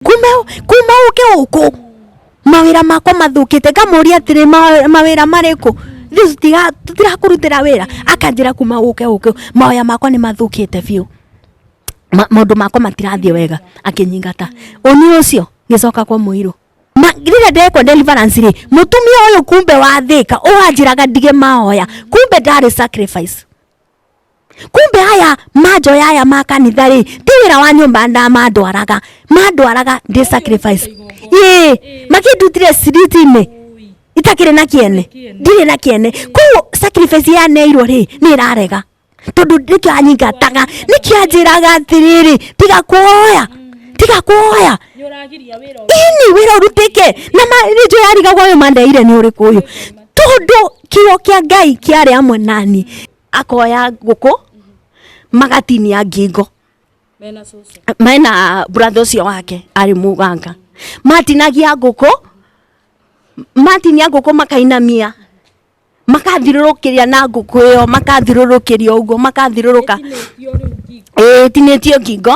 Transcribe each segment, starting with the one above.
kumbe kumbe uke uku mawira makwa mathukite ngamuria atiri "Ma- mawira mariku thiu tiga tirakurutira wira akanjira kuma uke uke mawaya makwa ni mathukite biu Ma- maundu makwa matirathiĩ wega akĩnyingata ũni ũcio ngĩcoka kwa mũirũ Ma- rĩrĩa ndekwa deliverance rĩ mũtumia ũyũ kumbe wathĩka ũwanjĩraga ndige mahoya kumbe ndarĩ sacrifice kumbe aya manjoya aya ma kanitha rĩ ti wĩra wa nyũmba na mandwaraga mandwaraga ndĩ sacrifice ĩ makĩndutire ciriti-inĩ itakĩrĩ na kĩene ndirĩ na kĩene koguo sacrifice ya neirwo rĩ nĩ ĩrarega tondũ nĩkĩo anyingataga nĩkĩo anjĩraga atĩrĩrĩ tiga kuoya tiga kuoya nĩ ũragiria wĩra ũyũ. ini wĩra ũrutĩke na ma- nĩ njũĩ arigagwo ũyũ mandeire nĩ ũrĩkũ ũyũ tondå kä o kä a ngai kä arä amwe nani akoya ngå kå magatinia ngingo mena cucu mena brother ũcio wake arĩ mũganga matinagia ngũkũ matinia ngũkũ makainamia makathirũrũkĩria na ngũkũ ĩyo makathirũrũkĩria ũguo makathirũrũka ĩtinĩtio ngingo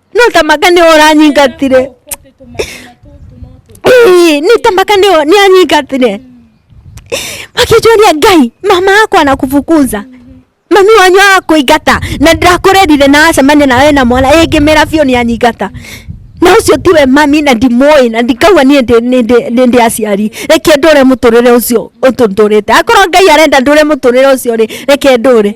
no tamaka nĩ ũranyingatire Ĩĩ, nĩ tamaka nĩ nĩ anyingatire makĩnjũria ngai mama akwa anakubukuza mami wanyu akũingata na ndakũrerire na acemania nawe na mwana ĩngĩmera biũ nĩ anyingata na ũcio tiwe mami na ndimũĩ na ndikauga niĩ ndĩ- nĩ- ndĩ- nĩ ndĩ aciari reke ndũre mũtũrĩre ũcio ũtũtũrĩte akorwo ngai arenda ndũre mũtũrĩre ũcio rĩ reke ndũre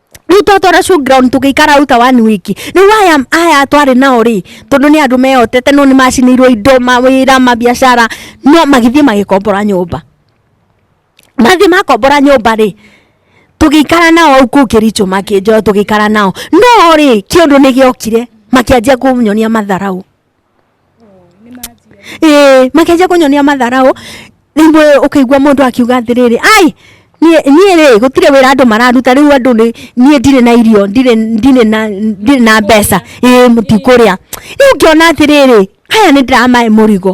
riu twatwara showground tugiikara uta one week riu aya aya twari nao ri tondu ni andu mehotete no ni macinirwo indo mawira mabiacara no magithie magikombora nyumba mathi makombora nyumba ri tugikara nao au kuu kiricho makinjo tugikara nao no ri kiundu ni giokire makianjia kunyonia matharau ĩĩ makĩanjia kũnyonia matharaũ rĩmwe ũkĩigua mũndũ akiuga atĩrĩrĩ ai niĩ niĩ rĩ gũtirĩ wĩra andũ mararuta rĩu andũ nĩ niĩ ndirĩ na irio ndirĩ ndirĩ na ndirĩ na mbeca ĩĩ mũtikũrĩa rĩu ngĩona atĩrĩrĩ aya nĩ ndĩramahe mũrigo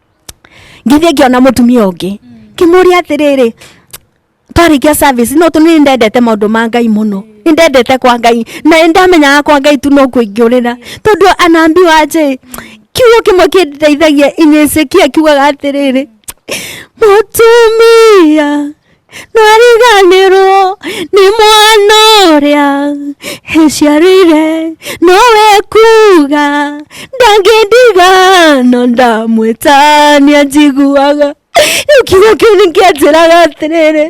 ngithiĩ ngĩona mũtumia ũngĩ ngĩmũria atĩrĩrĩ twarĩkia service no tũnĩ ndendete maũndũ ma ngai mũno nĩ ndendete kwa ngai na nĩ ndamenyaga kwa ngai tu no kũingĩũrĩra tondũ anambi wanje kiugo kĩmwe kĩndeithagia inyesekia kiugaga atĩrĩrĩ mũtumia nariganirwo nĩ mwana ũrĩa ĩciarĩire nowe kuga ndangĩndiga no ndamwĩtania njiguaga rĩu kiugo kĩu nĩ kĩanjĩraga atĩrĩrĩ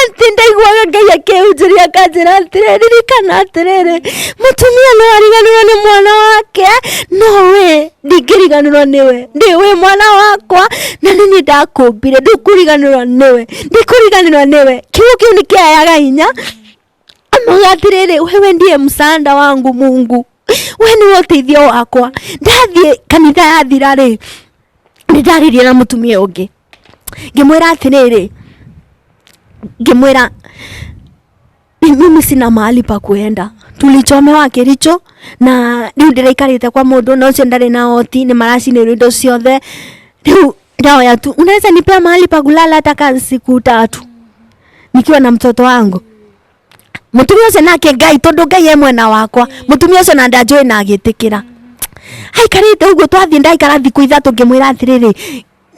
atĩ ndaiguaga ngai akĩhunjĩria akanjĩra atĩrĩrĩ ririkana atĩrĩrĩ mũtumia no ariganĩrwo nĩ mwana wake no we ndingĩriganĩrwo nĩwe ndĩ wĩ mwana wakwa na nĩ niĩ ndakũmbire ndũkũriganĩrwo nĩwe ndikũriganĩrwo nĩwe kiugo kĩu nĩ kĩayaga hinya amauga atĩrĩrĩ wewe ndiye msaada wangu mungu we nĩwe ũteithio wakwa ndathiĩ kanitha yathira rĩ nĩ ndaririe na mũtumia ũngĩ ngĩmwĩra atĩrĩrĩ ngĩmwĩra Ni mimi sina mahali pa kuenda tulichomewa kiricho na riu ndiraikarite kwa mundu na ucio ndari na oti ni maracinirwo indo ciothe riu ndaoya tu unaweza nipea mahali pa kulala hata ka siku tatu nikiwa na mtoto wangu mutumia ucio nake ngai tondu ngai e mwena wakwa mutumia ucio na ndanjui na agitikira aikarite uguo twathie ndaikara thiku ithatu ngimwira atiriri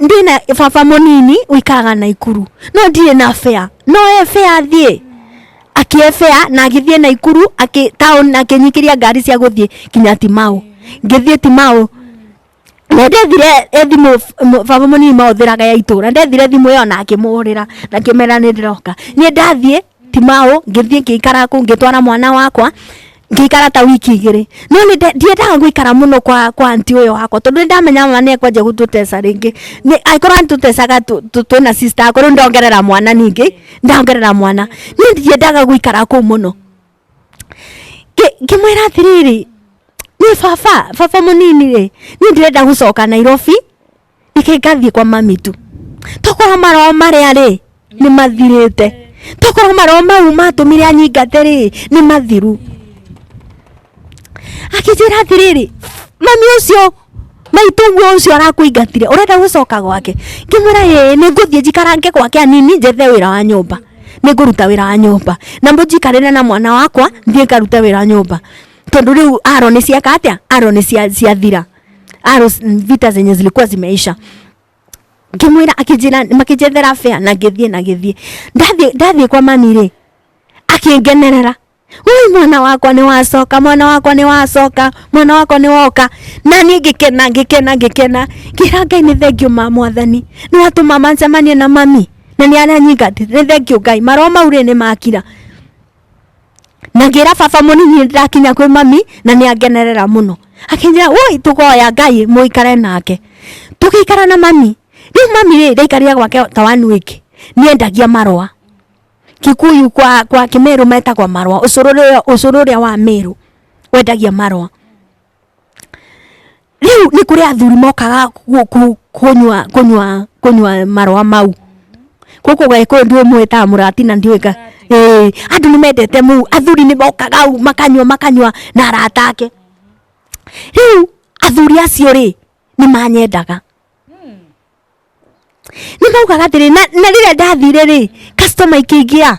ndĩ na baba mũnini ũikaraga naikuru no ndirĩ na bea no e bea thiĩ akĩebea na agĩthiĩ naikuru akĩ- town akĩnyikĩria ngari cia gũthiĩ kinya timau ngĩthiĩ timau na ndethire thimũ m- baba mũnini mahũthĩraga ya itũra ndethire thimũ ĩyo na akĩmũhũrĩra na akĩmera nĩ ndĩroka niĩ ndathiĩ ti mau ngithii ngikara ku ngitwara mwana wakwa ngikara ta wiki igiri no ni ndiendaga guikara muno kwa kwa anti uyo wakwa tondu ni ndamenya mama ni ekwanjia gututesa ringi ni aikorwo antutesaga tu- tu- twina sister akwa riu ndongerera mwana ningi ndongerera mwana ni ndiendaga guikara ku muno Ngi- ngimwira atiriri ni baba baba munini ri ni ndirenda gucoka nairobi reke ngathiĩ kwa mami tu tokorwo maroho marĩa rĩ nĩ mathirĩte tokorwo maroho mau matũmire anyingate rĩ nĩ mathiru akĩnjĩra atĩrĩrĩ mami ũcio maitũguo ũcio arakũingatire ũrenda gũcoka gwake ngĩmwĩra ĩĩ nĩ ngũthiĩ njikarange gwake anini njethe wĩra wa nyũmba nĩ ngũruta wĩra wa nyũmba na mũnjikarĩre na mwana wakwa thiĩ ngarute wĩra wa nyũmba tondũ rĩu aro nĩ cieka atĩa aro nĩ cia- ciathira Arrows, mm, vita zenye zilikuwa zimeisha ngimwira akijira makijethera fea na ngithie na ngithie ndathie ndathie kwa mami ri akingenerera Ui mwana wakwa nĩ wacoka mwana wakwa nĩ wacoka mwana wakwa nĩ woka na niĩ ngĩkena ngĩkena ngĩkena ngĩra ngai nĩ thengiũ ma mwathani nĩ watũma mancemanie na mami na nĩ aranyingatĩ nĩ thengiũ ngai maroo mau rĩ nĩ makira na ngĩra baba mũnini nĩ ndakinya kwĩ mami na nĩ angenerera mũno akĩnjĩra woi tũkoya ngai mũikare nake tũgĩikara na mami rĩu mami rĩ ndaikarire gwake ta wanu ĩngĩ nĩ endagia marũa kikuyu kwa, kwa kĩmerũ metagwo marũa ũcũrũ ũrĩa- ũcũrũ ũrĩa wa merũ wendagia marũa rĩu nĩ kũrĩ athuri mokaga kũ- kũ- kũnyua kũnyua kũnyua marũa mau kũkũ gagĩkũyũ ndiũĩ mũĩtaga mũrati na ndiũĩ ka Ĩĩ, andũ nĩ mendete mũu athuri nĩ mokaga u makanyua makanyua na arata ake rĩu athuri acio rĩ nĩ manyendaga nä maugaga atä rä na rä rä a ndathire rä customer ikĩingä a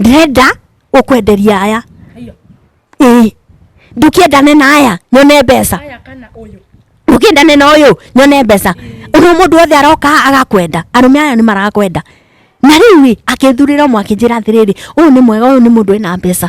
ndĩrenda gũkwenderia aya Hiyo. ĩĩ ndũkĩendane na aya nyone mbeca Haya kana uyu. ndũkĩendane na ũyũ nyone mbeca ũrĩa mũndũ wothe aroka agakwenda arũme aya nĩ marakwenda na rĩu ĩ akĩthurĩra ũmwe akĩnjĩra atĩrĩrĩ ũyũ nĩ mwega ũyũ nĩ mũndũ wĩna mbeca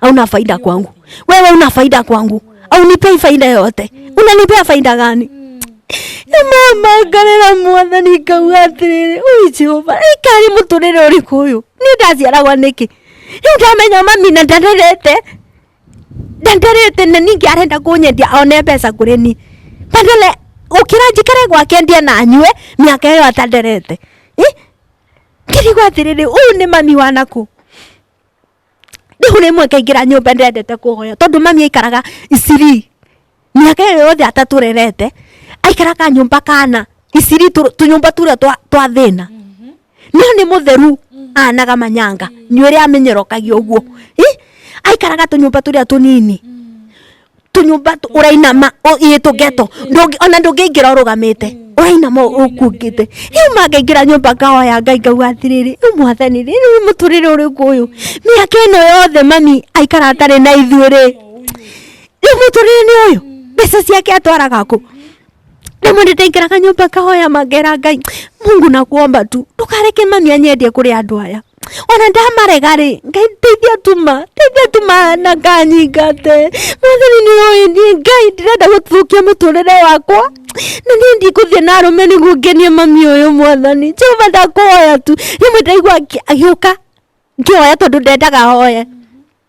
hauna faida kwangu wewe una faida kwangu au nipei faida yoyote unanipea faida gani mama ngarĩra mwathani ngauga atĩrĩrĩ ũyũ jehova ĩkarĩ mũtũrĩre ũrĩkũ ũyũ nĩ ndaciaragwa nĩkĩ rĩu ndamenya mami na ndarerete ndanderete na ningĩ arenda kũnyendia one mbeca kũrĩ ni badala gũkĩra njikare gwake ndie na nyue mĩaka ĩyo atanderete ngĩrigwo atĩrĩrĩ ũyũ nĩ mami wanakũ Riu rimwe ngaingira nyumba ndendete kuhoya tondu mami aikaraga Eastleigh. Miaka iyo yothe ataturerete aikaraga nyumba kana Eastleigh tu- tunyumba turia twa twa thina. No ni mutheru anaga manyanga nywire amenyorokagia uguo. Ih, Aikaraga tunyumba turia tunini. tunyumba tu- urainama u- ii tungeto Ndũngĩ- ona ndũngĩingĩra ũrũgamĩte ũrainama ũkuongĩte rĩu mangaingĩra nyũmba ngahoya ngai ngauga atĩrĩrĩ rĩu mwathani rĩ rĩu mũtũrĩre ũrĩkũ ũyũ mĩaka ĩno yothe mami aikara atarĩ na ithuĩ rĩ rĩu mũtũrĩre nĩ ũyũ mbeca ciake atwaraga kũ na mwe nĩndaingĩraga nyũmba ngahoya mangera ngai mungu na kuomba tu ndũkareke mami anyendie kũrĩ andũ aya ona ndamarega rĩ ngai ndeithia tuma ndeithia tuma na nganyingate mwathani nĩũĩndie ngai ndĩrenda gũthũkia mũtũrĩre wakwa na niĩ ndikũthiĩ na arũme nĩguo ngenie mami ũyũ mwathani jehova ndakũhoya tu rĩmwe ndaigua akĩ- agĩũka ngĩhoya tondũ ndendaga hoye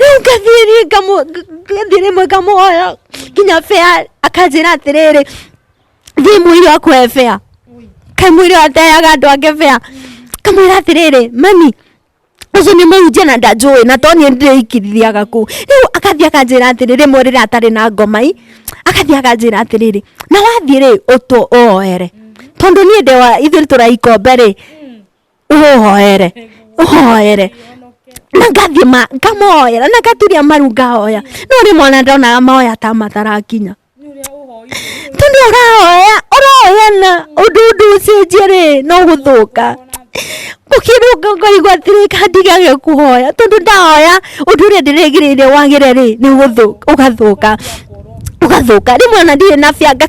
rĩu ngathiĩ niĩ ngamũ- ng- ngathiĩ rĩmwe ngamũhoya nginya bea akanjĩra atĩrĩrĩ thiĩ mũirũ akũhe bea kaĩ mũirũ ateaga andũ angĩ bea kamwĩra atĩrĩrĩ mami ũcio nĩ mũhunjia na ndanjũĩ na to niĩ ndĩikithiaga kũu rĩu agathiĩ akanjĩra atĩrĩ rĩmwe rĩrĩa atarĩ na ngomai agathiĩ akanjĩra atĩrĩrĩ na wathiĩ rĩ ũtũ ũoere tondũ niĩ ndĩwa ithuĩ tũraikombe rĩ ũhoere ũhoere na ngathiĩ ma ngamoera na ngaturia maru ngahoya no rĩ mwana ndonaga mahoya ta matarakinya tondũ ũrahoya ũrahoya na ũndũ ũndũ ũcenjie rĩ no gũthũka ũkĩrũnga ngaigua atĩrĩ kandigage kũhoya tondũ ndahoya ũndũ ũrĩa ndĩrĩgĩrĩire wagĩre rĩ nĩ gũthũka ũgathũka ũgathũka rĩmwe ona ndirĩ na bia nga-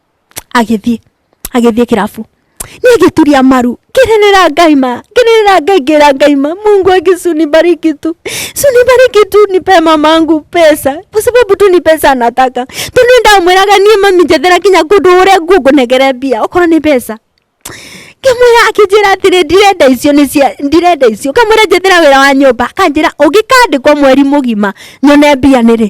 agĩthiĩ agĩthiĩ kĩrabu niĩ ngĩturia maru ngĩrĩrĩra ngai ma ngĩrĩrĩra ngai ngĩra ngai ma mungu akisunibariki tu sunibariki tu nipe mamangu pesa kwa sababu tu ni pesa anataka tondũ ndamwĩraga niĩ mami njethera kinya kũndũ ũrĩa ngũngũnegere mbia okorwo nĩ mbeca ngamwĩra akĩnjĩra atĩrĩ ndirenda icio nĩ cia ndirenda icio ngamwĩra njethera wĩra wa nyũmba akanjĩra ũngĩkandĩkwo mweri mũgima nyone mbia nĩrĩ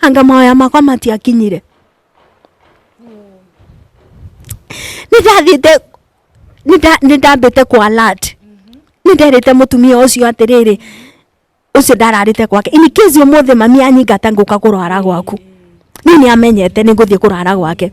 anga maoya makwa matiakinyire nĩndathĩte nĩnda- nĩndambĩte kũ alert nĩnderĩte mũtumia ũcio atĩrĩrĩ ũcio ndararĩte gwake in case ũmũthĩ mami anyingata ngũka kũrwara gwaku niĩ nĩamenyete nĩngũthiĩ kũrara gwake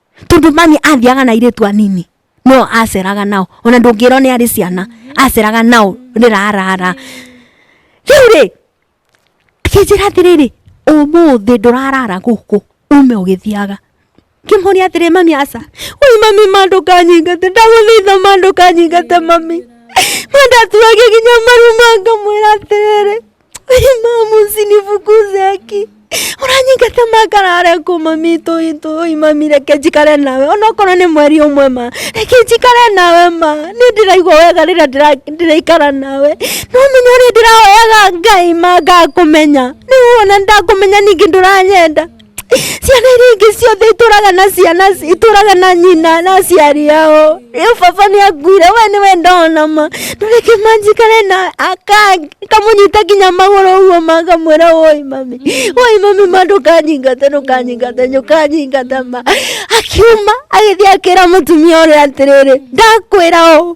tondu mami athiaga na iritu anini no aceraga nao ona ndungirwo ni ari ciana aceraga nao rirarara riu ri kinjira atiriri umuthi ndurarara guku ume ugithiaga kimuria atiri mami aca ui mami mandu kanyingate ndaguthaitha mandu kanyingate mami mandatuage nginya maru mangamwira atiriri mama usinifukuze haki uranyinga tamakarare kuma mito itu imami reke njikare nawe onokorwo nĩ mweri ũmwe ma reke njikare nawe ma nĩ ndĩraigua wega rĩrĩa ndĩra- ndĩraikara nawe no menye ũrĩa ndĩrahoyaga ngai ma ngakũmenya nĩguo ona ndakũmenya ningĩ ndũranyenda ciana iria ingĩ ciothe itũraga na ciana itũraga na nyina na aciari yao rĩu baba nĩ akuire we nĩ we ndona ma ndũreke manjikare na akamunyita nginya magũrũ ũguo makamwĩra woi mami woi mami ma ndũkanyingate ndũkanyingate ndũkanyingate ma akiuma agĩthiĩ akĩra mũtumia ũrĩa atĩrĩrĩ ndakwĩra ũũ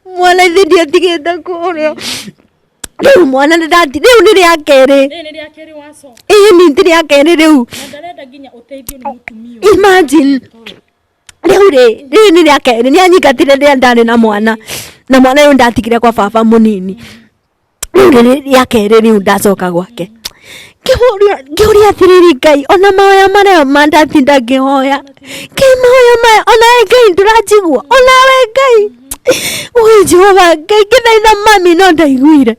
mwana ithe ndiatigĩte kũrĩa rĩu mwana nĩ ndati rĩu nĩ rĩa kerĩ Rĩrĩ nĩ rĩa kerĩ waco. ĩĩ nĩ nĩ rĩa kerĩ rĩu Na ndarenda nginya ũteithio nĩ mũtumia ũyũ. imagine rĩu rĩ rĩu nĩ rĩa kerĩ nĩ anyingatire rĩrĩa ndarĩ na mwana na mwana ũyũ ndatigire kwa baba mũnini rĩu rĩrĩ rĩa kerĩ rĩu ndacoka gwake ngĩhũria ngĩũria atĩrĩrĩ ngai ona mahoya marĩa ma ndatinda ngĩhoya ngai mahoya maya ona we ngai ndũranjigua ona we ngai ũĩ jehova ngai ngĩthaitha mami no ndaiguire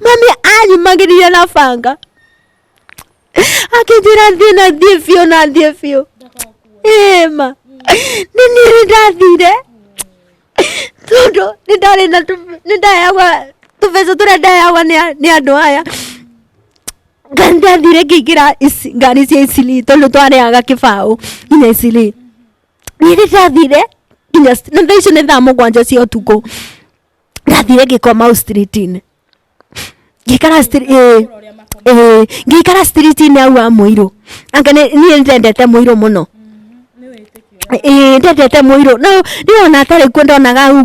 mami anyumagĩrire na banga akĩnjĩra thiĩ na thiĩ biũ na thiĩ biũ ĩma nĩ niĩ nĩ ndathire tondũ nĩ ndarĩ na tũ- nĩ ndayagwa tũbeca tũrĩa ndayagwa nĩ a- nĩ andũ aya Nga- ndathire ngĩingĩra ici- ngari cia icili tondũ twarĩaga kĩbaũ nginya icili niĩ nĩ ndathire nginya na thaa icio nĩ thaa mũgwanja cia ũtukũ ndathire ngĩkoma au street-inĩ ngĩikara street ĩĩ ĩĩ ngĩikara street inĩ au wa mũirũ anga nĩ- niĩ nĩndendete mũirũ mũno ĩĩ ndendete mũirũ no ndĩrona atarĩ kuo ndonaga au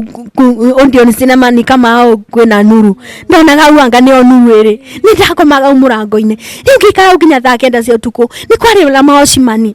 ondion cinema ni kama au kwĩna nuru ndonaga au anga nĩyo nuru ĩrĩ nĩ ndakomaga au mũrango-inĩ rĩu ngĩikara au nginya thaa kenda cia ũtukũ nĩ kwarĩ na maocimani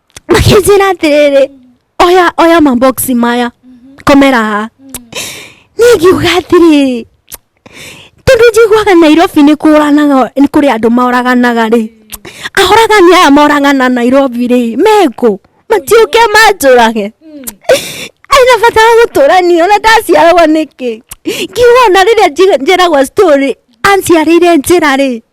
makĩnjĩra atĩrĩrĩ oya oya maboksi maya komera haha niĩ ngiuga atĩrĩrĩ tondũ njiguaga nairobi nĩ kũranaga nĩ kũrĩ andũ moraganaga rĩ ahoragani aya moragana nairobi rĩ mekũ matiũke manjũrage aina bata wa gũtũrania ona ndaciaragwo nĩkĩ ngiuga ona rĩrĩa nji- njeragwo story anciarĩire njĩra rĩ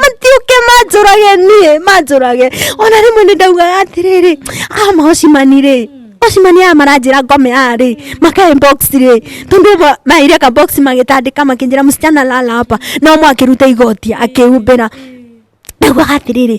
matiũke manjũrage niĩ manjũrage ona rĩmwe nĩ ndaugaga atĩrĩrĩ a maocimani rĩ ocimani aya maranjĩra ngome aya rĩ makae box rĩ tondũ ĩmwe maire ka box magĩtandĩka makĩnjĩra msichana lala hapa na ũmwe akĩruta igoti akĩhumbĩra ndaugaga atĩrĩrĩ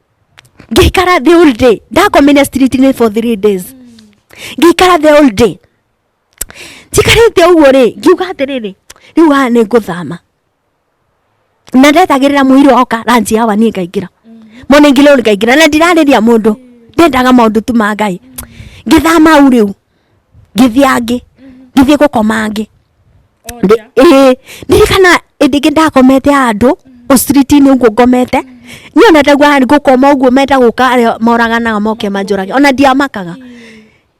ngĩikara the whole day ndakomire street-inĩ for three days ngĩikara the whole day njikarĩte ũguo rĩ ngiuga atĩrĩrĩ rĩu haha nĩ ngũthama na ndetagĩrĩra mũirũ oka ranji hawa niĩ ngaingĩra mone ngĩrĩu ngaingĩra na ndirarĩria mũndũ ndendaga maũndũ tu ma ngai ngĩthama u rĩu ngĩthia ngĩ ngĩthiĩ gũkoma ngĩ Ndĩ- ĩĩ, ndirikana ĩndĩ ngĩ ndakomete handũ ũciriti-inĩ ũguo ngomete niĩ ona ndaigua harĩ gũkoma ũguo menda gũka arĩa moraganaga moke manjũrage ona ndiamakaga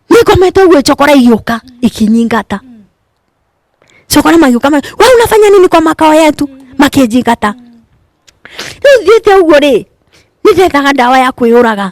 nĩ ngomete ũguo cokora igĩũka ikinyingata cokora magĩũka ma we unafanya nini kwa makao yetu makĩnjingata rĩu thiĩte ũguo rĩ nĩ ndethaga ndawa ya kwĩyũraga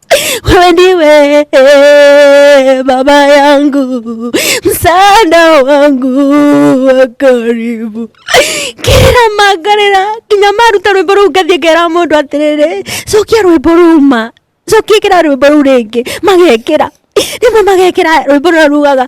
wewe ndiwe baba yangu, msaada wangu wa karibu kira magarira nginya maruta rwimbo ruu ngathie ngera mundu atiriri cokia rwimbo ruma cokia ikira rwimbo ruu ringi magekira rimwe magekira rwimbo rura rugaga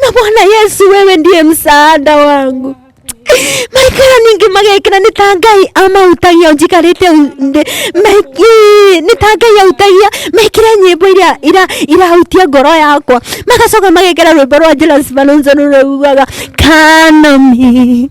na Bwana Yesu, wewe ndiye msaada wangu maikara ningi magekira nĩ ta ngai amautagia njikarĩte nĩ ta ngai autagia mekĩre nyĩmbo iria ira- irahutia ngoro yakwa magacoka magekĩra rwĩmbo rwa Jonas Malonzo rũrĩa rugaga kanami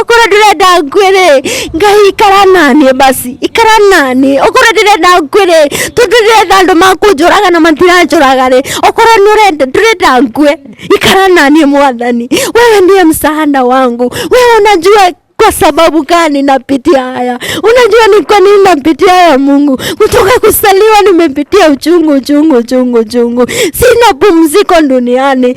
okorwo ndĩrenda ngwe rĩ ngai ikara naniĩ basi ikara naniĩ okorwo ndĩrenda ngwe rĩ tondũ ndĩrenda andũ makũnjũraga na matiranjũraga rĩ okorwo nĩ ũrenda ndĩrenda ngwe ikara naniĩ mwathani wewe ndiye msaada wangu wewe unajua kwa sababu gani napitia haya unajua ni kwa nini napitia haya mungu kutoka kusaliwa nimepitia uchungu uchungu uchungu uchungu sina pumziko duniani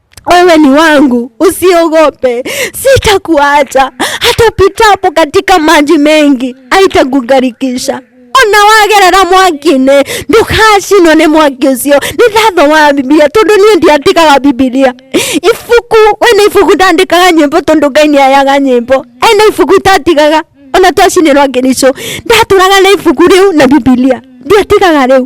wewe ni wangu, usiogope, sitakuacha. Hata upitapo katika maji mengi, haitakugarikisha ona wagerera mwaki-inĩ ndũkacinwo nĩ mwaki ũcio nĩ ndathoma bibilia tondũ niĩ ndiandĩkaga bibilia ibuku wena ibuku ndandĩkaga nyĩmbo tondũ ngai nĩ ayaga nyĩmbo ena ibuku itatigaga ona twacinĩrwo ngĩricũ ndatũraga na ibuku rĩu na bibilia ndiatigaga rĩu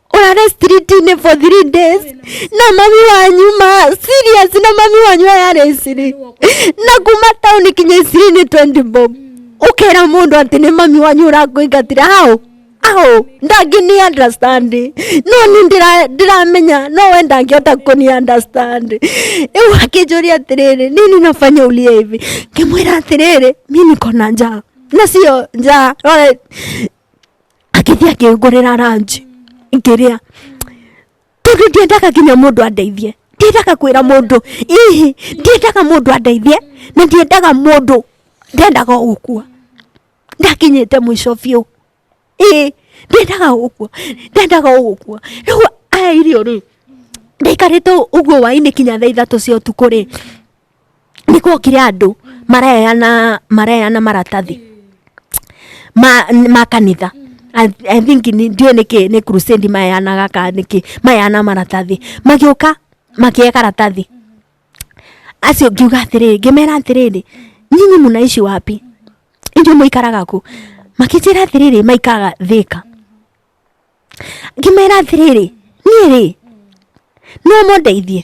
urare streetini for three days na mami wanyu ma serious na mami wanyu arare ciri na kuma town kinya cirini 20 bob ukera mundu ati ni mami wanyu urakuingatira hau aho ndangini understand no ni ndira- ndiramenya no we ndangĩhota kũni understand rĩu akĩnjũria atĩrĩrĩ nini nafanya ulie hivi ngĩmwĩra atĩrĩrĩ mi niko na njaa na sio njaa rore agĩthiĩ akĩngũrĩra ranji ngĩrĩa tondũ ndiendaga nginya mũndũ andeithie ndiendaga kwĩra mũndũ ihi ndiendaga mũndũ andeithie na ndiendaga mũndũ ndendaga o gũkua ndakinyĩte mũico biũ ĩĩ ndendaga o gũkua ndendaga o gũkua rĩu aya irio rĩ ndaikarĩte ũguo wainĩ kinya thaa ithatũ cia ũtukũ rĩ nĩ gwokire andũ mareana mareana maratathi ma, ma kanitha I, I think ni- ndiũĩ nĩkĩ nĩ crusade maheanaga ka nĩkĩ maheana maratathi magĩũka makĩe karatathi acio ngiuga atĩrĩrĩ ngĩmera atĩrĩrĩ nyinyi mũnaishi wapi inyuĩ mũikaraga kũ makĩnjĩra atĩrĩrĩ maikaraga thĩka ngĩmera atĩrĩrĩ niĩ rĩ no mũndeithie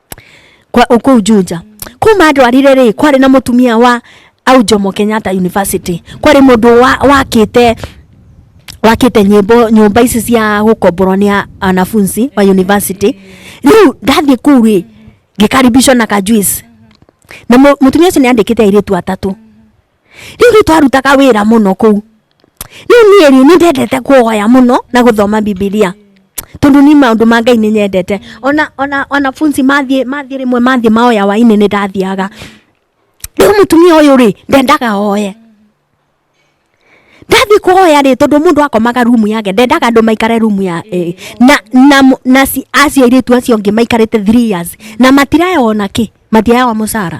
kwa kuu Juja kuma andwarire rĩ kwarĩ na mũtumia wa au Jomo Kenyatta University kwarĩ mũndũ wa wakĩte wakĩte nyĩmbo nyũmba ici cia gũkomborwo nĩ a- anafunzi wa university rĩu ndathiĩ kuu rĩ ngĩkaribishwo na kajuice na mu- mũtumia ũcio nĩ andĩkĩte airĩtu atatũ rĩu rĩ twarutaga wĩra mũno kũu rĩu niĩ rĩ nĩ ndendete kuoya mũno na gũthoma bibilia tondũ niĩ maũndũ ma ngai nĩ nyendete ona ona wanafunzi mathiĩ mathiĩ rĩmwe mathiĩ maoya wainĩ nĩ ndathiaga rĩu mũtumia ũyũ rĩ ndendaga oye ndathiĩ kuoya rĩ tondũ mũndũ akomaga rumu yake ndendaga andũ maikare rumu ya eh, na na mũ- na ci- acio airĩtu acio angĩ maikarĩte three years na matiraya ona kĩ matiaya mũcara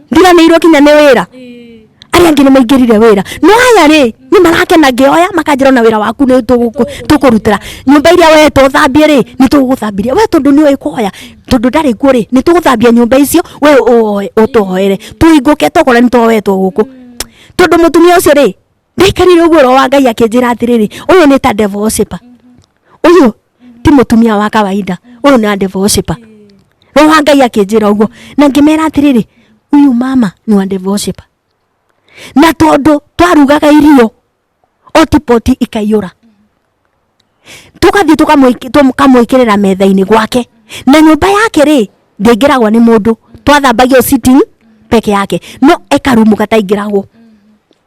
ndiranĩirwo kinya nĩ wĩra arĩa angĩ nĩ maingĩrire wĩra no aya rĩ nĩ marakena ngĩoya makanjĩra ona wĩra waku nĩ tũgũkũ- tũkũrutĩra nyũmba iria we tũthambie rĩ nĩ tũgũgũthambĩria we tondũ nĩ ũĩ kwoya tondũ ndarĩ kuo rĩ nĩ tũgũthambia nyũmba icio we ũoe- ũtũhoere tũhingũke tokorwo nĩ twoetwo gũkũ tondũ mũtumia ũcio rĩ ndaikarire ũguo roho wa ngai akĩnjĩra atĩrĩrĩ ũyũ nĩ ta devil worshiper ũyũ ti mũtumia wa kawaida ũyũ nĩ devil worshiper roho wa ngai akĩnjĩra ũguo na ngĩmera atĩrĩrĩ ũyũ mama nĩ wa devil worshiper na tondũ twarugaga irio otipoti ikaiyũra tugathiĩ tũkamwĩki- tũkamwĩkĩrĩra metha-inĩ gwake na nyũmba yake rĩ ndĩingĩragwo nĩ mũndũ twathambagio sitting peke yake no ekarumu kataingĩragwo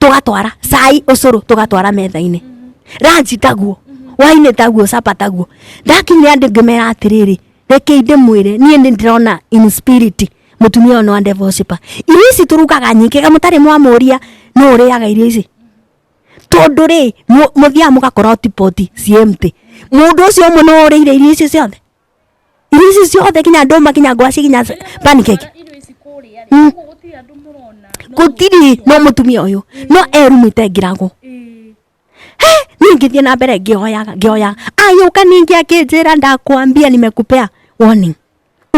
tũgatwara cai ũcũrũ tũgatwara metha-inĩ ranji taguo wainĩ taguo capa taguo ndakinyire andũ ngĩmera atĩrĩrĩ rekei ndĩmwĩre niĩ nĩ ndĩrona in spirit mũtumia ũyũ nĩ wa devil worshipper irio ici tũrugaga nyingĩ ga mũtarĩ mwamũria nũ ũrĩaga irio ici tondå rä må thiaga må gakora tipoti ciä mtä må ndå å cio å mwe nä worä ire irio icio ciothe irio ici ciothe kinya ndũma kinya ngwaci kinya s- pancake irio ici kũrĩa Mm. rĩ koguo gũtirĩ andũ mũrona gũtirĩ no mũtumia ũyũ no erumĩte ngirago Ĩĩ. niä ngä thiä na mbere ngä oyaga ngä oyaga ayå ka ningä akä njä ra ndakwambia nimekupea warning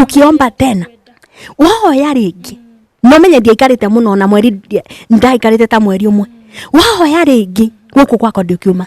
ukiomba tena wahoya rä ngä no menye ndiaikarä te må no na mweri ndaikarä te ta mweri å mwe wahoya rä ngä gå kå gwakwa ndä kiuma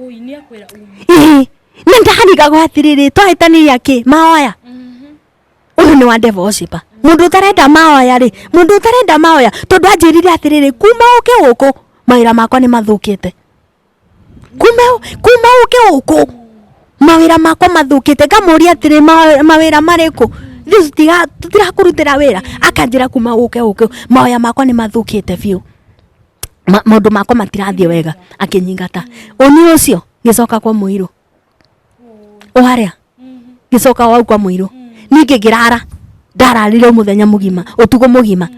Ui, niakwira ui. Ĩhĩ, nĩ ndarigagwo atĩrĩrĩ twahĩtanĩria kĩ maoya ũyũ nĩ wa ndeva ũcipa mũndũ ũtarenda maoya rĩ mũndũ ũtarenda maoya tondũ anjĩrire atĩrĩrĩ kuma ũke gũkũ mawĩra makwa nĩ mathũkĩte kuma kuma ũke gũkũ mawĩra makwa mathũkĩte ngamũria atĩrĩ "Ma- mawĩra marĩkũ Ithuĩ tũtiga- tũtirakũrutĩra wĩra akanjĩra kuma ũke gũkũ maoya makwa nĩ mathũkĩte biũ ma, maundu makwa matirathiĩ wega akĩnyingata ũni ũcio ngĩcoka kwa mũirũ ũharĩa ngĩcoka wau kwa mũirũ ningĩ ngĩrara ndararire mũthenya mũgima ũtukũ mũgima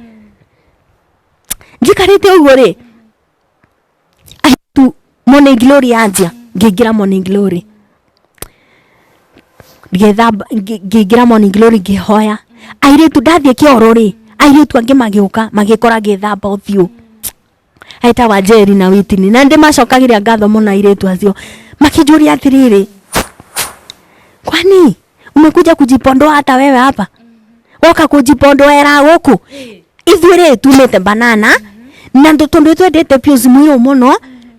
njikarĩte ũguo rĩ ahitu Morning glory yanjia ngĩingĩra morning glory ngĩthamba ngĩ- ngĩingĩra morning glory ngĩhoya airĩtu ndathiĩ kĩoro rĩ airĩtu angĩ magĩũka magĩkora ngĩthamba ũthiũ aita wa njeri na witini na ndĩ macokagĩria ngatho mũno airĩtu acio makĩnjũria atĩrĩrĩ kwani umekuja kujipondoa hata wewe hapa woka kujipondoera guku ithuĩ rĩ tumĩte banana na ndũ- tondũ twendete biũ cimuirũ mũno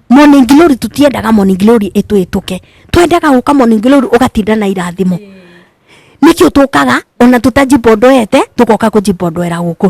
morning glory tũtiendaga morning glory ĩtwĩtũke twendaga gũka morning glory ũgatinda na irathimo nĩkĩo tũkaga ona tũtajipondoete tũgoka kũjipondoera gũkũ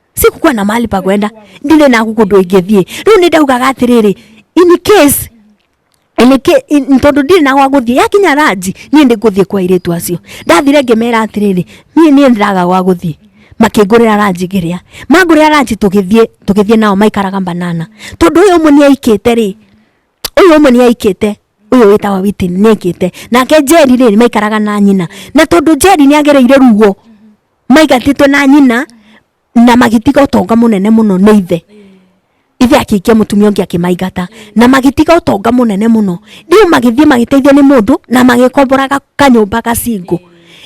sikukuwa na mahali pa kwenda ndire na guku ndwingithie riu ni ndaugaga atiriri in case Eleke tondu ndire na gwa guthie yakinya ranji nie ndi guthie kwa iritu acio ndathire ngimera atiriri nie nie ndiraga gwa guthie makingurira ranji ngiria mangurira ranji tugithie tugithie nao maikaraga banana tondu uyu umwe niaikite ri uyu umwe niaikite uyu witawa witini niaikite nake njeri ri maikaraga na nyina na tondu njeri niagereire ruo maigatĩtwe na nyina na magĩtiga ũtonga mũnene mũno nĩ ithe ithe akĩikia mũtumia ũngĩ akĩmaingata na magĩtiga ũtonga mũnene mũno rĩu magĩthiĩ magĩteithio nĩ mũndũ na magĩkombora ga- kanyũmba gacingũ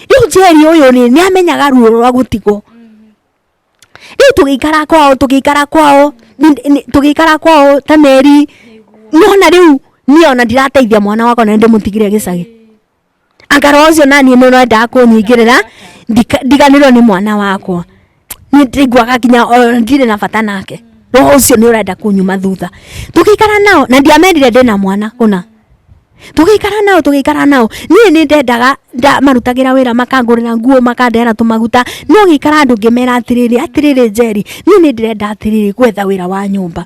rĩu njeri ũyũ rĩ nĩ amenyaga ruo rwa gũtigwo rĩu tũgĩikara kwao tũgĩikara kwao ni- ni- tũgĩikara kwao ta meri nona rĩu niĩ ona ndirateithia mwana wakwa na nĩndĩmũtigire gĩcagi anga roho ũcio naniĩ nĩ ũrendaga kũnyingĩrĩra ndika- ndiganĩrwo nĩ mwana wakwa nĩ ndĩngwaga nginya o ndirĩ na bata nake roho ũcio nĩ ũrenda kũnyuma thutha tũgĩikara nao na ndiamerire ndĩ na mwana ũna tũgĩikara nao tũgĩikara nao niĩ nĩ ndendaga nda- marutagĩra wĩra makangũrĩra nguo makandehera tũmaguta no gĩikara andũ ngĩmera atĩrĩrĩ atĩrĩrĩ njeri niĩ nĩ ndĩrenda atĩrĩrĩ gwetha wĩra wa nyũmba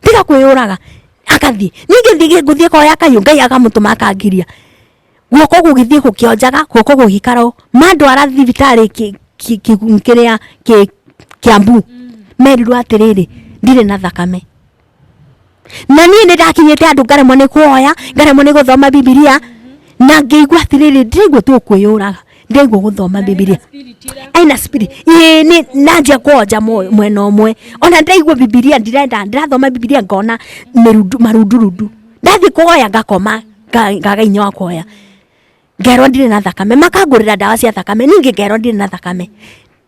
tiga kwĩyũraga agathiĩ ningĩ thiĩ ngũthiĩ koya kayũ ngai akamũtũma akangiria guoko gũgĩthiĩ gũkĩonjaga guoko gũgĩikara ũũ mandwara thibitarĩ kĩ- kĩ- kĩ- kĩrĩa kĩ- kĩambu merirwo atĩrĩrĩ ndirĩ na thakame na niĩ nĩ ndakinyĩte andũ ngaremwo nĩ kuoya ngaremwo nĩ gũthoma bibilia na ngĩigua atĩrĩrĩ ndiraigua tu kwĩyũraga ngeigua guthoma bibilia aina spirit ii ni nanja kwonja moyo- mwena umwe ona ndaigua bibilia ndirenda ndirathoma bibilia ngona mirundu- marundurundu ndathi kuoya ngakoma nga- ngaga inya wa kuoya ngerwo ndirĩ na thakame makangũrĩra ndawa cia thakame ningĩ ngerwo ndirĩ na thakame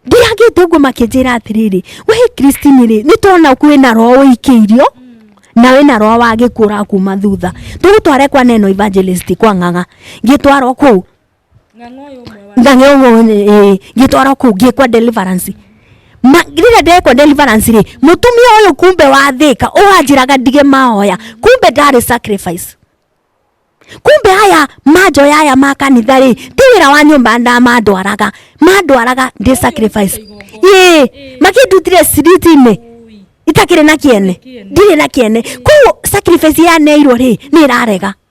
ndiagĩte ũguo makĩnjĩra atĩrĩrĩ we kristini rĩ nĩ tona kwĩ na roho ũikĩirio na wĩ na roho wa gĩkuũ ũrakuma thutha tũgũtware kwa neno evangelist kwa ng'ang'a ngĩtwarwo kũu ng'ang'a ũyũ ũmwe wa ng'ang'e ũmwe ngĩtwarwo kũ ngĩkwa deliverance Ma- rĩrĩa ndekwa deliverance rĩ mũtumia ũyũ kumbe wathĩka ũhanjĩraga ndige mahoya kumbe ndarĩ sacrifice kumbe aya manjoya aya ma kanitha rĩ ti wĩra wa nyũmba nda mandwaraga mandwaraga ndĩ sacrifice ĩ makĩndutire ciritinĩ Ui. itakĩrĩ na kĩene ndirĩ na kĩene koguo sacrifice yaneirwo rĩ nĩ ĩrarega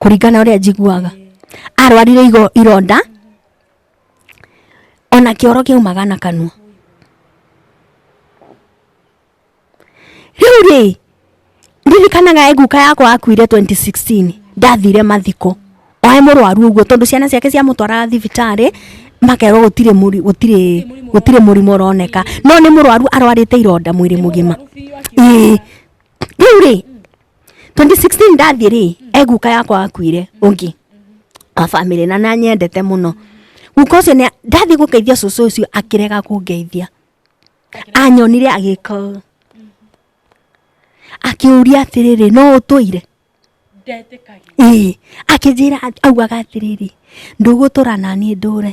kũringana ũrĩa njiguaga arwarire igo- ironda ona kĩoro kĩaumaga na kanua rĩu rĩ ndirikanaga guka yakwa akuire 2016 ndathire mathiko oe mũrwaru ũguo tondũ ciana ciake ciamũtwaraga thibitarĩ makerwo gũtirĩ mũri- gũtirĩ gũtirĩ mũrimũ ũroneka no nĩ mũrwaru arwarĩte ironda mwĩrĩ mũgima Ĩĩ. rĩu rĩ 2016 ndathiĩ rĩ e guka yakwa akuire ũngĩ wa bamĩrĩ na nanyendete mũno guka ũcio nĩ- ndathiĩ gũgeithia cũcũ ũcio akĩrega kũngeithia anyonire agĩka ũũ. akĩũria atĩrĩrĩ no ũtũire ndetĩkagia ĩĩ akĩnjĩra augaga atĩrĩrĩ ndũgũtũra naniĩ ndũre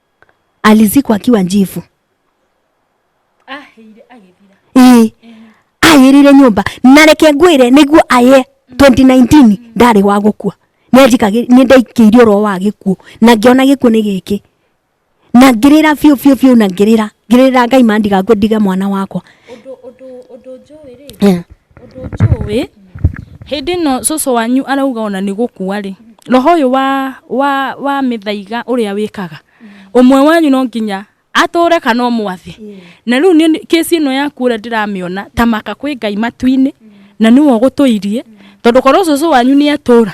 alizikwa akiwa njivu ahĩire agĩthira ĩĩ ayĩrĩire nyũmba na reke ngwĩre nĩguo aye 2019 ndarĩ wa gũkua nĩanjikagĩ- nĩndaikĩirio ro wa gĩkuũ na ngĩona gĩkuũ nĩ gĩkĩ na ngĩrĩra biũ biũ biũ na ngĩrĩra ngĩrĩra ngai ma ndigakue ndige mwana wakwa ũndũ ũndũ ũndũ njũĩ rĩ Eh, Ũndũ njũĩ, hĩndĩ ĩno cũcũ wanyu arauga ona nĩ gũkua rĩ, roho ũyũ wa wa wa mĩthaiga ũrĩa wĩkaga, ũmwe wanyu no nginya atũre kana ũmwathe. Na rĩu niĩ case ĩno yaku ũrĩa ndĩramĩona, ta maka kwĩ Ngai matu-inĩ, na nĩwe ũgũtũirie, tondũ korwo cũcũ wanyu nĩatũra,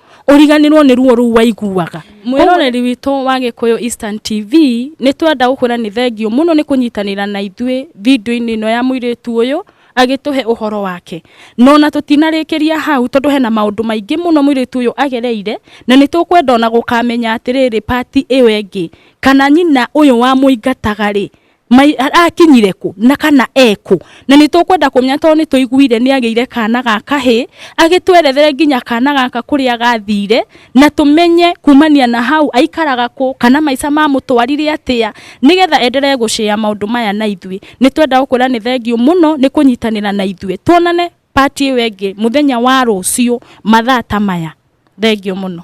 ũriganĩrwo nĩ ruo rũu waiguaga mwĩroreri witũ wa gĩkũyũ eastern tv nĩ twenda gũkwĩra nĩ thengiũ mũno nĩ kũnyitanĩra na ithuĩ video-inĩ ĩno ya mũirĩtu ũyũ agĩtũhe ũhoro wake no na tũtinarĩkĩria hau tondũ hena maũndũ maingĩ mũno mũirĩtu ũyũ agereire na nĩ tũkwenda ona gũkamenya atĩrĩrĩ part ĩyo ĩngĩ kana nyina ũyũ wamũingataga rĩ Mai arakinyire kũ na kana ekũ na nĩ tũkwenda kũmenya tondũ nĩ tũiguire nĩ agĩire kana ga kahĩ agĩtwerethere nginya kana gaka kũrĩa gathire na tũmenye kumania na hau aikaraga kũ kana maica mamũtwarire atĩa nĩgetha enderee gũcĩa maũndũ maya na ithuĩ. Nĩ twenda gũkwĩra nĩ thengiũ mũno nĩ kũnyitanĩra na ithuĩ. Tuonane part ĩyo ĩngĩ mũthenya wa rũciũ mathaa ta maya. Thengiũ mũno.